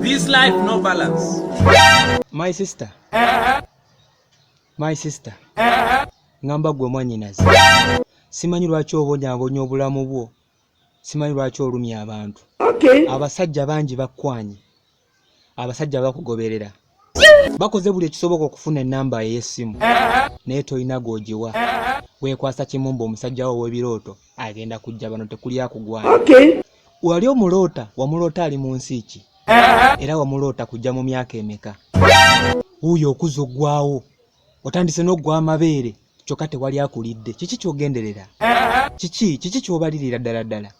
This life no balance. My sister. My sister. Ngamba gwe mwanyinazi. Simanyi lwaki obonyabonya obulamu bwo. Simanyi lwaki olumya abantu. Okay. Abasajja bangi bakwanye. abasajja bakugoberera bakoze buli ekisoboka okufuna enamba ey'essimu naye tolina gwogiwa wekwasa kimumba omusajja wo w'ebirooto agenda kujja bano tekuli akugwana wali omuloota wamuloota ali mu nsi ki era wamuloota kujja mu myaka emeka wuuyo okuza oggwawo otandise n'oggwa amabeere kyokka tewali akulidde kiki kyogenderera kiki kiki kyobalirira ddala ddala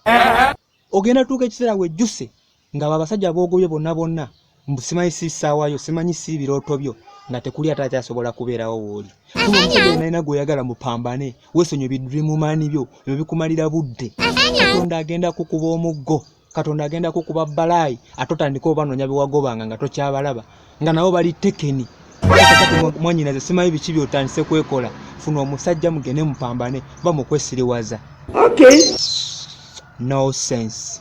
ogenda tuuka ekiseera wejjuse Nga abo abasajja bogobye bonna bonna mbu simanyi si ssaawa yo simanyi si birooto byo nga tekuli ate akyasobola kubeerawo wooli kuba omusajja onalina gweyagala mupambane wesonyo bidrimumani byo ebyo bikumalira budde katonda agenda kukuba omuggo katonda agenda kukuba balaayi ate otandika obanoonya bewagobanga nga tokyabalaba nga nabo bali tekeni mwanyinaze simanyi biki byotandise kwekola funa omusajja mugende mupambane bamukwesiriwaza okay. no sense